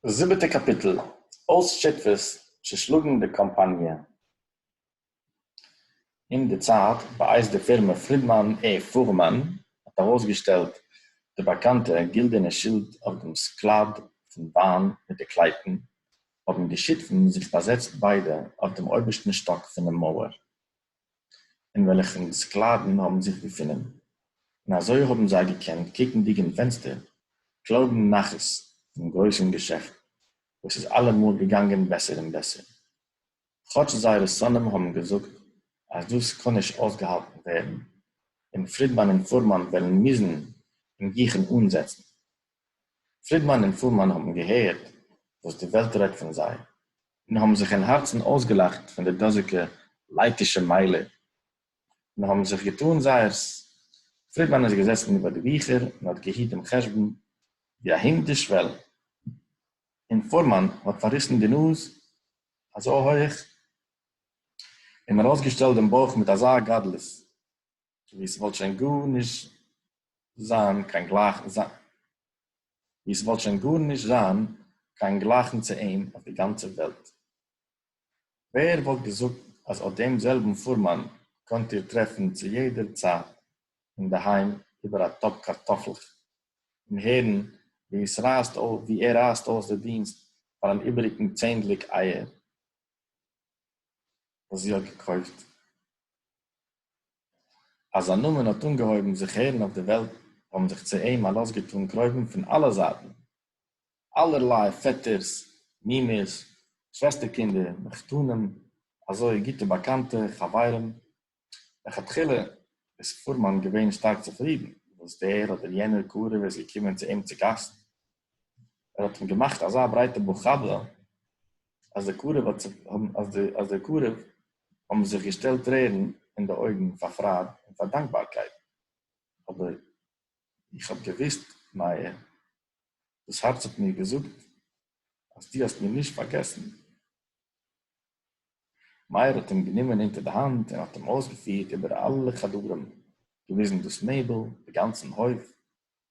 זיבעטע קאפיטל, אויס שותפות צושלאגן די קאמפאניע. אין די צייט בייס די פירמע פרידמאן ע פורמאן האט ארויסגעשטעלט די באקאנטע גילדערנע שילד אויף דעם סקלאד פון וויין מיט די קלייטן, האבן די שותפים זיך באזעצט ביידע אויף דעם אויבערשטן שטאק פונעם מויער. אין וועלכן די סקלאַוון האָבן זיך געפונען, און אַזוי האָבן זיי געקענט, קוקנדיק אין פענצטער, קלויבן נחת פון גרויסן געשעפט, וואָס איז אַלע מאָל געגאַנגען בעסער און בעסער, כאָטש זייערע שונאים האָבן געזאָגט, אַז דאָס קאָן נישט אויסגעהאַלטן ווערן, און פרידמאַן און פורמאַן וועלן מוזן אין גיכן אָנזעצן. פרידמאן און פולמאן האבן געהערט וואס די וועלט רעדט פון זיי, און האבן זיך אין הארצן אויסגעלאכט פון די דאזיקע לייטישע מיילער, און האבן זיך געטאן זייערס. פרידמאן איז געזעסן איבער די ביכער און האט געהיט דעם חשבון ווי א הונט די שוועל, און פולמאן האט פארריסן די נאז אזוי הויעך און ארויסגעשטעלט דעם בויך מיט אזא גדלות, ווי עס וואלט שוין גארנישט זיין קיין גלייכן זיין ווי עס וואלט שוין גארנישט זיין קיין גלייכן צו אים אויף די גאנצע וועלט. ווער וואלט געזאגט אז אט דעם זעלבן פורמאן קענט איר טרעפן צו יעדער צייט אינדערהיים איבער א טאפ קארטאפלעך און הערן ווי עס רייסט אויס ווי ער רייסט אויס די דינסט פאר אן איבעריגן צענדליג אייער וואס זי האט געקויפט. אַז זײַן נאָמען האָט אָנגעהױבן זיך הערן אױף דער װעלט, האָבן זיך צו אים אַ לאָז געטאָן קרובֿים פֿון אַלע זײַטן, אַלערלײ פֿעטערס, מומעס, שװעסטערקינדער, מחותּנים, אַזױ גוטע באַקאַנטע, חבֿרים. לכתּחילה איז פֿורמאַן געװען שטאַרק צופֿרידן, װאָס דער אָדער יענער קרובֿ איז געקומען צו אים צו גאַסט, ער האט אים געמאכט אזא ברייטע מלחמה אז די קרוב האט זיך אז די אז די קרוב האבן זיך געשטעלט טרערן אין די אויגן פאר פרייד און פאר דאנקבארקייט, אבער איך האב געוואוסט מיה, דאס הארץ האט מיר געזאגט אז דו האסט מיר נישט פארגעסן. מאיר האט אים גענומען אונטער די האנט און האט אים אויסגעפירט איבער אלע חדרים, געוויזן דאס מעבל, די גאנצן הויף,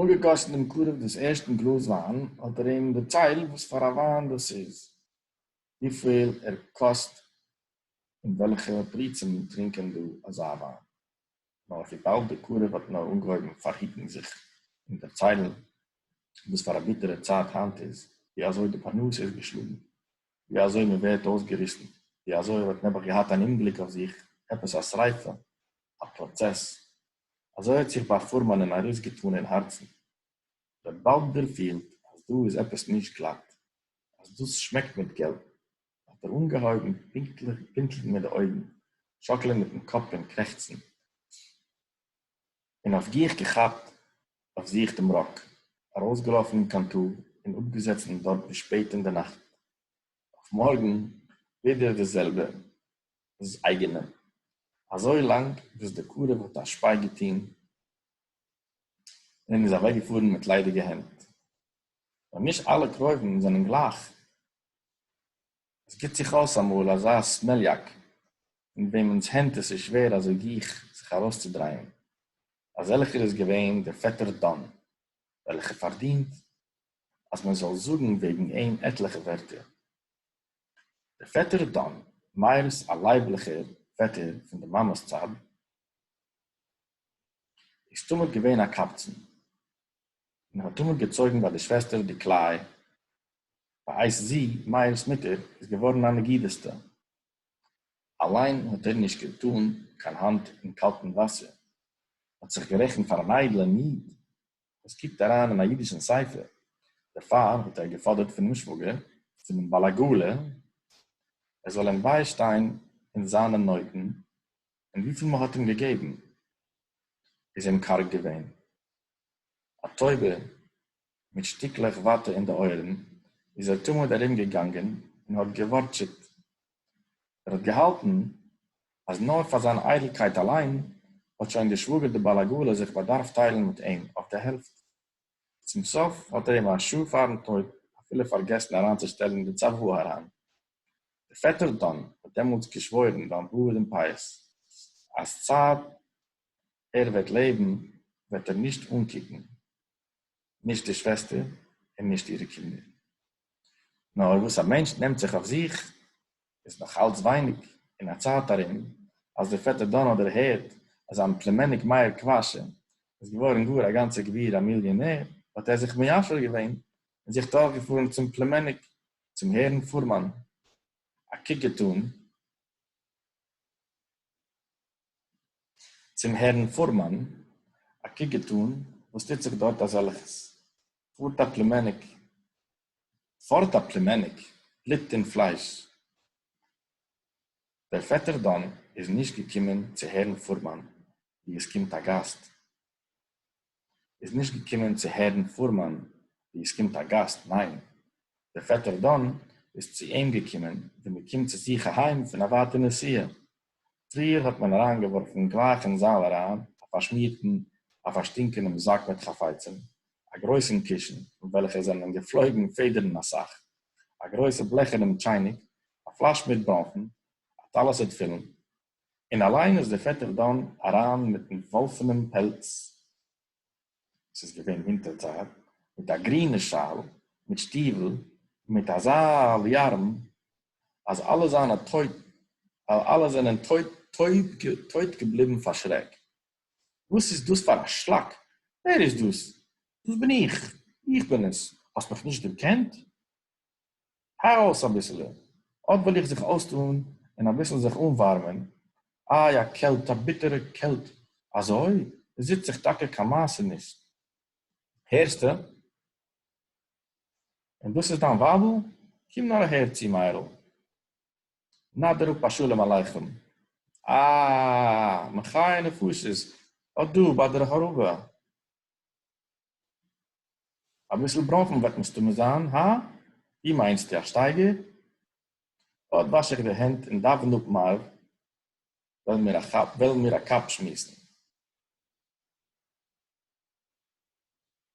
אנגעגאסן דעם קרוב דאס ערשטן גלאז וויין, האט ער אים דערציילט וואס פאר א וויין דאס איז, וויפיל ער קאסט און וועלכע פריצים טרינקען דא אזא וויין. נאר וויבאלד דער קרוב האט נאר אנגעהויבן פארהיטן זיך און דערציילן וואס פאר א ביטערע צייט היינט איז, ווי אזוי די פרנסה איז געשלאגן, ווי אזוי מען ווערט אויסגעריסן, ווי אזוי ער האט נעבעך געהאט אן אומגליק אויף זיך, עפעס א שריפה, א פראצעס, אזוי האט זיך ביי פורמאנען ארויסגעטאן אין הארצן ר' באלדער פילט אז דא איז עפעס נישט גלאט, אז דאס שמעקט מיט געלט, האט ער אנגעהויבן פינקטליך פינטלן מיט די אויגן, שאקלען מיטן קאפ און קרעכצן, און אויף גיך געכאפט אויף זיך דעם ראק, ארויסגעלאפן אין קאנטאר און אפגעזעצן דארט ביז שפעט אין די נאכט, אויף מארגן ווידער די זעלבע, איז אייגענעם, אזוי לאנג וואס די קרוב האט א שפיי געטוהן און איז אוועק געפארן מיט ליידיגע הענט. נאר נישט אלע קרובים זענען גלייך, עס גיבט זיך אויס אמאל אזא סמעליאק אין וועמענס הענט עס איז שווער אזוי גיך זיך ארויסצודרייען, אזעלכער איז געווען דער פעטער דאן, וועלכער פארדינט אז מען זאל זאגן וועגן אים עטליכע ווערטער. דער פעטער דאן, מאיר'ס א לייבליכער פעטער פון די מאמע'ס צד, איז תמיד געווען א קבצן, און האט תמיד געצויגן ביי די שוועסטער די קלעי, בעת זי, מאיר'ס מוטער, איז געווארן א נגידת'טע. אליין האט ער נישט געטאן קיין האנט אין קאלטן וואסער, האט זיך גערעכנט פאר אן איידלען איד, עס קוקט אריין אין א אידישן ספר, דערפאר האט ער געפאדערט פונעם שוואגער, פונעם בעל עגלה, ער זאל אים ביישטיין אין זיינע נויטן, און וויפיל מען האט אים געגעבן, איז אים קארג געווען. א טויבע מיט שטיקלעך וואטע אין די אויערן, איז ער תמיד ארומגעגאנגען און האט געווארטשעט ער האט געהאלטן אז נאר פאר זיין איידלקייט אליין האט שוין דער שוואגער דער בעל עגלה זיך באדארפט טיילן מיט אים אויף די העלפט. צום סוף האט ער אים א שעה פארן טויט אפילו פארגעסן אריינצושטעלן די צוואה אריין. דער פעטער דאן האט דעמאלטס געשוואוירן ביים בארד און פאות אז צייט ער וועט לעבן וועט ער נישט אנקוקן נישט די שוועסטער און נישט אירע קינדער. נאר וואס א מענטש נעמט זיך אויף זיך איז נאך אלץ ווייניג, אין א צייט ארום אז דער פעטער דאן האט דערהערט אז זיין פלומעניק מאיר קוואשע איז געווארן גאר א גאנצע גביר א מיליאנער, האט ער זיך מיישר געווען און זיך דורכגעפארן צום פלומעניק צום הערן פורמאן א קוק געטאן. צום הערן פורמאן א קוק געטאן וואס טוט זיך דארט אזעלכעס, פארט א פלימעניק פארט א פלימעניק בלוט און פלייש, דער פעטער דאן איז נישט געקומען צו הערן פורמאן ווי עס קומט א גאסט, איז נישט געקומען צו הערן פֿורמאַן, װי עס קומט אַ גאַסט. נײן, דער פֿעטער דאָן איז צו אים געקומען, װי מע קומט צו זיך אַהײם פֿון אַ װײַטער נסיעה. פֿריִער האָט מען אַרײַנגעװאָרפֿן גלײַך אין זאַל אַרײַן אַ פֿאַרשמירטן, אַ פֿאַרשטינקענעם זאַק מיט חפֿצים, אַ גרױסן קישן, פֿון װעלכער זענען געפֿלױגן פֿעדערן אַ סך, אַ גרױסע בלעכערנעם טשײַניק, אַ פֿלאַש מיט בראָנפֿן, אַ טלית-עת-פֿילן, און אַליין איז דער פֿעטער דאַן אַרײַן מיטן װאָלפֿענעם פּעלץ, עס איז געװען װינטערצײַט, מיט אַ גרינער שאַל, מיט שטיװל און מיט אַזאַ ליאַרם, אַז אַלע זײַנע טױ אַלע זענען טױב טױב טױט געבליבן פֿאַר שרעק. װאָס איז דאָס פֿאַר אַ שלאַק? װער איז דאָס? דאָס בין איך! איך בין עס! האָסט מיך נישט דערקענט? הער אויס אביסעלע, אט וועל איך זיך אויסטאן און אביסל זיך אנווארמען, איי א קעלט, א ביטערע קעלט, אזוי? עס זיצט זיך טאקע קיין מעשה נישט, הערסטע? און דאס איז דיין ווייבל? קום נאר אהער צו מאיר'ל, נאדער אפ א שלום עליכם, אה, מחיי נפשות, אט דא ביי דער הארעווע. אביסל בראָנפן וועט מסתמא זיין, הא? ווי מיינסטו, א שטייגער? אָט וואַש איך די הענט און דאַווען אָפּ מעריב, וועלן מיר א כאַפּ, וועלן מיר א קאַפּ שמועסן.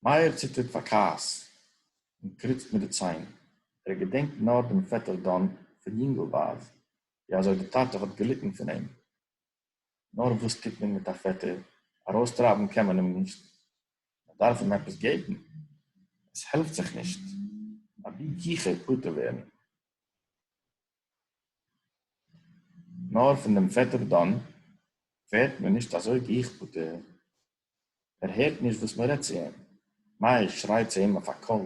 מאיר ציטערט פאַר כעס און קריצט מיט די ציין. ער געדענקט נאָר דעם פעטער דאָן פון יונגלווייז, ווי אַזוי די טאַטע האָט געליטן פון אים. נאר וואס טוט מען מיט א פעטער? ארויסטרייבן קען מען אים נישט, מען דארף אים עפעס געבן, עס העלפט זיך נישט, אבי גיכער פטור ווערן, נאר פון דעם פעטער דאן ווערט מען נישט אזוי גיך פטור, ער הערט נישט וואס מען רעדט צו אים, מאיר שרייט צו אים אויף א קול,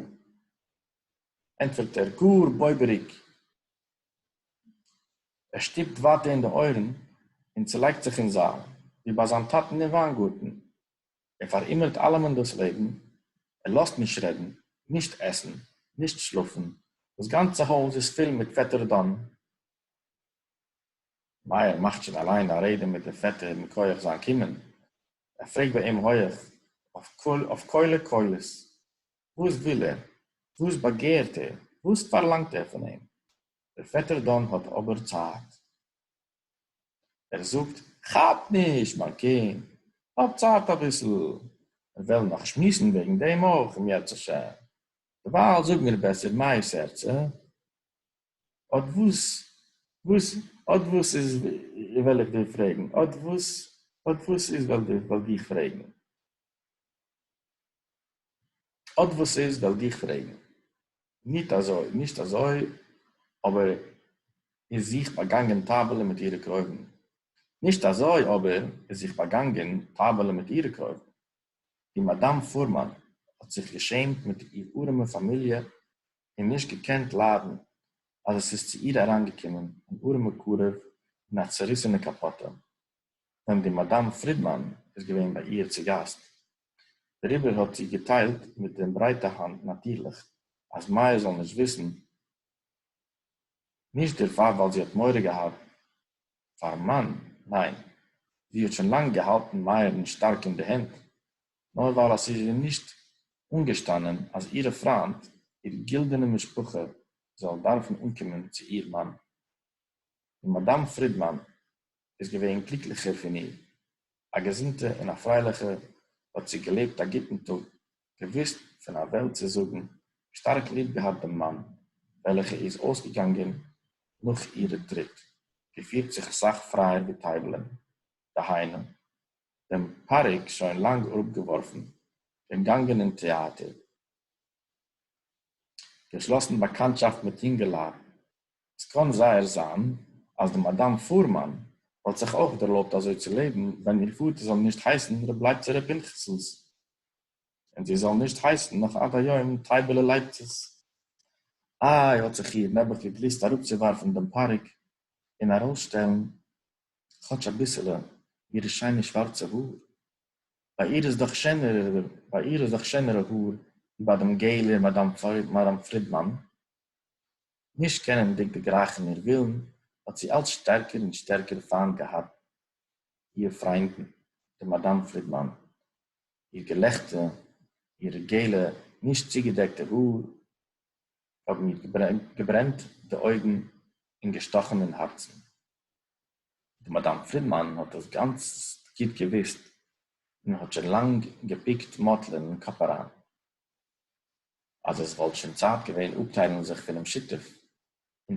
ענטפערט ער גאר בויבעריג, ער שטופּט װײַטער אין די אױערן און צעלײגט זיך אין זײַל, װי בײַ זײַן טאַטן אין װײַנגאָרטן. ער פֿאַרהונגערט אַלעמען דאָס לעבן. ער לאָזט נישט רעדן, נישט עסן, נישט שלאָפֿן. דאָס גאַנצע הױז איז פֿול מיט פֿעטער דאָן. מאיר מאַכט שױן אַלײן אַ רעדע מיט דעם פֿעטער מכּוח זײַן קומען. ער פֿרעגט בײַ אים הױך, אױף קולע-קולות, וואָס וויל ער? וואָס באַגערט ער? וואָס פֿאַרלאַנגט ער פֿון אים? דער פֿעטער דאָן האָט אָבער צײַט. ער זאָגט, כאַפּ נישט, מײַן קינד, האָב צײַט אַ ביסל. מיר וועלן נאָך שמועסן וועגן דעם אויך, אם ירצה השם. דערווײַל זאָג מיר בעסער, מאיר סערצע, אָט וואָס, וואָס, אָט וואָס איז, וועל איך דיר פֿרעגן, אָט וואָס, אָט וואָס איז, וועל דיך פֿרעגן. אָט װאָס איז, װעל דיך פֿרעגן. ניט אַזױ, נישט אַזױ אָבער איז זיך באַגאַנגען טײַבעלע מיט אירע קרױבן. נישט אַזױ אָבער איז זיך באַגאַנגען טײַבעלע מיט אירע קרױבן. די מאַדאַם פֿורמאַן האָט זיך געשעמט מיט איר אָרעמע פֿאַמיליע און נישט געקענט לײַדן, אַז עס איז צו איר אַרײַנגעקומען אַן אָרעמע קרובֿ אין אַ צעריסענע קאַפּאָטע, װען די מאַדאַם פֿרידמאַן איז געװען בײַ איר צו גאַסט. דעריבער האָט זי געטיילט מיט דעם ברייטע האַנט, נאַטירלעך, אַז מאַיאַ זאָל נישט וויסן, נישט דערפאַר, ווייל זי האָט מורא געהאַט פאַרן מאַן, ניין, זי האָט שוין לאַנג געהאַלטן מאַיערן שטאַרק אין די הענט, נאָר ווייל אַז ס'איז איר נישט אָנגעשטאַנען, אַז אירע פריינט, איר גילדענע משפּחה, זאָלן דאַרפן אָנקומען צו איר מאַן. און מאַדאַם פרידמאַן איז געווען גליקליכער פון איר, א געזונטע און א פרייליכע האט זי געלעבט א גוטן טאג, געוואוסט פון א וועלט צו זאגן, שטארק ליב געהאט דעם מאן, וועלכע איז אויסגעגאנגען נאך אירע טריט, געפירט זיך אסאך פרייער ווי טייבלען, דהיינו, דעם פאריק שוין לאנג אראפגעווארפן, געגאנגען אין טעאטער, געשלאסן באקאנטשאפט מיט יונגעלייט, עס קאָן זייער זײַן, אַז די מאַדאַם פֿורמאַן וואָלט זיך אויך דערלויבט אַזוי צו לעבן, ווען איר פֿאָטער זאָל נישט הייסן רב לייבצער רב פּינחסנס, און זי זאָל נישט הייסן נאָך עד-היום טייבעלע לייבצעס. אַי, האָט זיך איר, נעבעך, געגליסט אַראָפּצוּוואַרפֿן דעם פּאַריק און אַרויסשטעלן כאָטש אַ ביסעלע אירע שיינע שוואַרצע האָר. בײַ איר איז דאָך שענערע, בײַ איר איז דאָך שענערע האָר, ווי בײַ דעם געלער מאַדאַם פֿרידמאַן. נישט קענענדיג דערגרייכן איר ווילן, האט זי אלץ שטערקער און שטערקער פיינט געהאט איר פריינדן, די מאדאם פרידמאן. איר געלעכטע, אירע געלע נישט צוגעדעקטע האר, האבן איר געברענט די אויגן און געשטאכן אין הארצן. די מאדאם פרידמאן האט דאס גאנץ גוט געוואוסט, און האט שוין לאנג געפיקט מאטלען אין קאפ אריין, אז עס וואלט שוין צייט געווען אפטיילן זיך פונעם שותף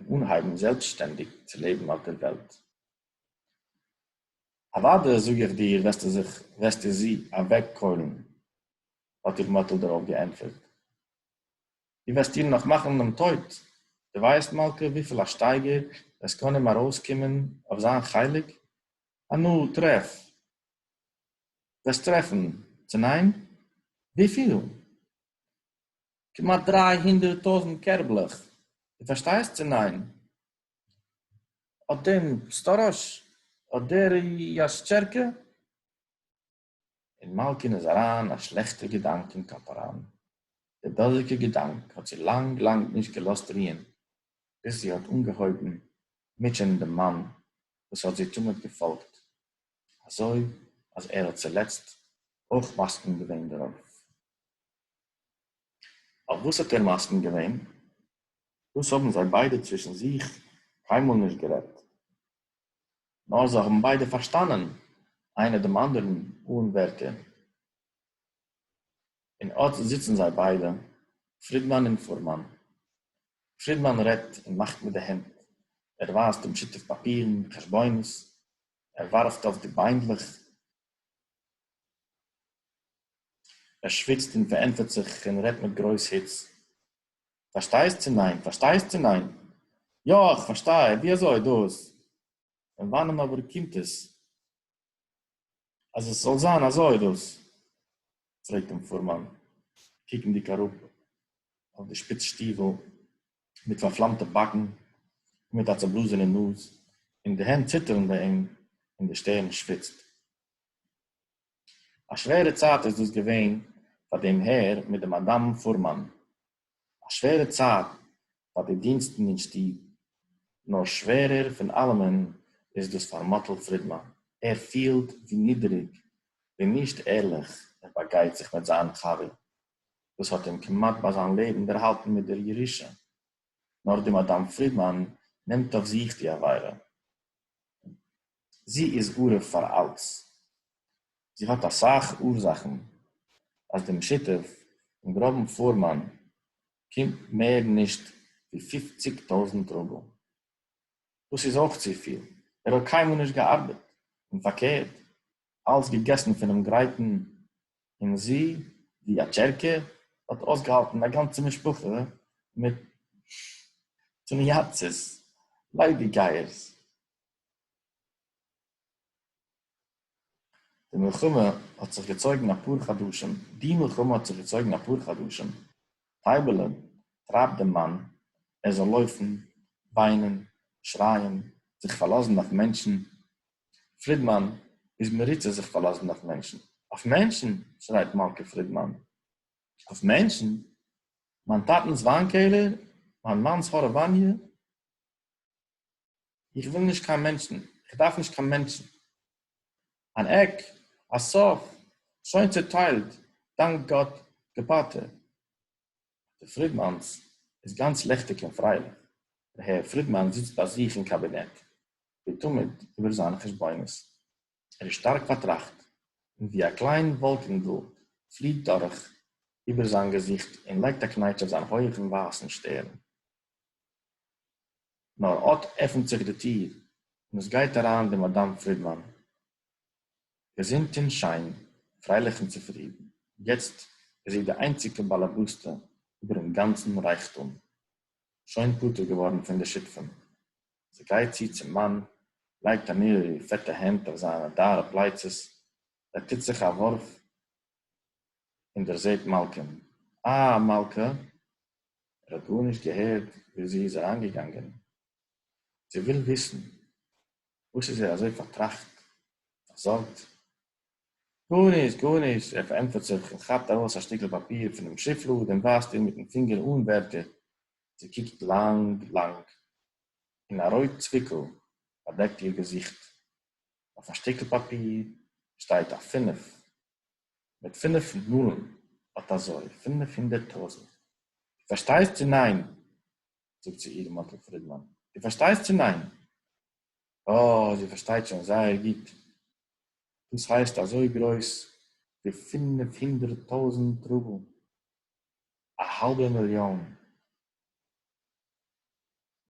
און אנהייבן זעלבסטשטענדיג צו לעבן אויף דער וועלט. אוודאי זאג איך דיר וועסטו זיך וועסטו זי אוועקקוילן, האט איר מאטל דערויף געענטפערט, דו וועסט איר נאך מאכן דעם טויט, דו ווייסט מלכה וויפיל א שטייגער עס קען אים ארויסקומען אויף זיין חלק? הנאה טרעף! וועסט טרעפן, צו ניין? וויפיל? כמעט דריי הונדערט טויזנט קערבלעך, דו פארשטייסט צו ניין? האט דעם סטאראש, האט דער יאשטשערקע? און מאלקין איז אריין א שלעכטע געדאנק אין קאפ אריין, דער דאזיגע געדאנק האט זי לאנג לאנג נישט געלאזט רוען, ביז זי האט אנגעהויבן מוטשענען דעם מאן וואס האט זי תמיד געפאלגט, אזוי אז ער האט צולעצט אויך מסכים געווען דערויף. אויף וואס האט ער מסכים געווען? דאס האבן זיי ביידע צווישן זיך קיינמאל נישט גערעדט, נאר זיי האבן ביידע פארשטאנען איינער דעם אנדערן אן ווערטער, און אט זיצן זיי ביידע, פרידמאן און פורמאן. פרידמאן רעדט און מאכט מיט די הענט, ער ווייזט דעם שותף פאפירן, חשבונות, ער וואַרפֿט אויף די ביינדלעך. ער שוויצט און פֿאַרענטפֿערט זיך און רעדט מיט גרויס היץ. פֿאַרשטייסט צי ניין? פֿאַרשטייסט צי ניין? יאָ, איך פֿאַרשטיי. ווי אַזוי דאָס? פֿון וואַנען אָבער קומט עס, אַז עס זאָל זײַן אַזוי דאָס? פרעגט דעם פורמאן, קוקנדיג אראפ אויף די שפיץ שטיוול מיט פארפלאמטע באקן און מיט א צעבלאזענע נאז, און די הענט ציטערן ביי אים און די שטערן שוויצט. א שווערע צייט איז דאס געווען פאר דעם הער מיט די מאדאם פורמאן. א שווערע צייט פאר די דינסטן אין שטוב, נאר שווערער פון אלעמען איז דאס פאר מאטל פרידמאן, ער פילט ווי נידעריג, ווי נישט ערליך ער באגייט זיך מיט זיין חבר, וואס האט אים כמעט ביי זיין לעבן דערהאלטן מיט דער ירושה, נאר די מאדאם פרידמאן נעמט אויף זיך די עבירה. זי איז ערוב פאר אלעס, זי האט אסאך אורזאכן אז דעם שותף אין גראבן פורמאן קומט מער נישט ווי פופציג טויזנט רובל, דאס איז אויך צופיל, ער האט קיינמאל נישט געארבעט, און פארקערט אַלץ געגעסן פֿונעם גרײטן, און זי, װי אַ טשערקע, האָט אױסגעהאַלטן אַ גאַנצע משפּחה מיט תּמי-יאַצעס, לײדיקגײערס. די מלחמה האָט זיך געצױגן אַ פּאָר חדשים. די מלחמה האָט זיך געצױגן אַ פּאָר חדשים. טײַבעלע טרײַבט דעם מאַן, ער זאָל לױפֿן, װײנען, שרײַען, זיך פֿאַרלאָזן אױף מענטשן, פרידמאן איז מרוצה זיך פארלאזן אויף מענטשן. אויף מענטשן? שרייט מלכה פרידמאן. אויף מענטשן? מיין טאטנס וויין קעלער? מיין מאנס הארעוואניע? איך וויל נישט קיין מענטשן. איך דארף נישט קיין מענטשן. אן עק, א סוף, שוין צעטיילט, דאנק גאט, געפאטע. די פרידמאנס איז גאנץ לעכטיג און פרייליך. די הער פרידמאן זיצט ביי זיך אין קאבינעט. ווי תמיד איבער זיינע חשבונות. ער איז שטארק פארטראכט, און ווי א קליין וואלקענדל פליעט דורך איבער זיין געזיכט און לייגט א קנייטש אויף זיין הויכן ווייסן שטערן. נאר אט עפנט זיך די טיר און עס גייט אריין די מאדאם פרידמאן, געזונט און שיין, פרייליך און צופרידן, יעצט איז זי די איינציגע באלעבאסטע איבער'ן גאנצן רייכטום, שוין פטור געווארן פון די שותפים, זי גייט צו צום מאן, לייגט אניער אירע פעטע הענט אויף זיינע דארע פלייצעס, ער טוט זיך א ווארף און דערזעט מלכה'ן. אה, מלכה! ער האט גארנישט געהערט ווי זי איז אריינגעגאנגען. זי וויל וויסן, וואס איז ער אזוי פארטראכט, פארזארגט? גארנישט, גארנישט! ער פארענטפערט זיך און כאפט ארויס א שטיקל פאפיר פונעם שופלאד און ווייזט איר מיטן פינגער אן ווערטער זי קוקט לאַנג, לאַנג, און אַ רויט צוויקל באַדעקט איר געזיכט. אויף אַ שטיקל פּאַפּיר שטייט אַ פֿינף, מיט פֿינף נולן, אָט אַזוי, פֿינף הונדערט טויזנט. דו פֿאַרשטייסט צי ניין? זאָגט צו איר מאָטל פֿרידמאַן. דו פֿאַרשטייסט צי ניין? אָ, זי פֿאַרשטייט שוין זייער גוט. דאָס הייסט אַזוי גרויס ווי פֿינף הונדערט טויזנט רובל. א האלבע מיליאן.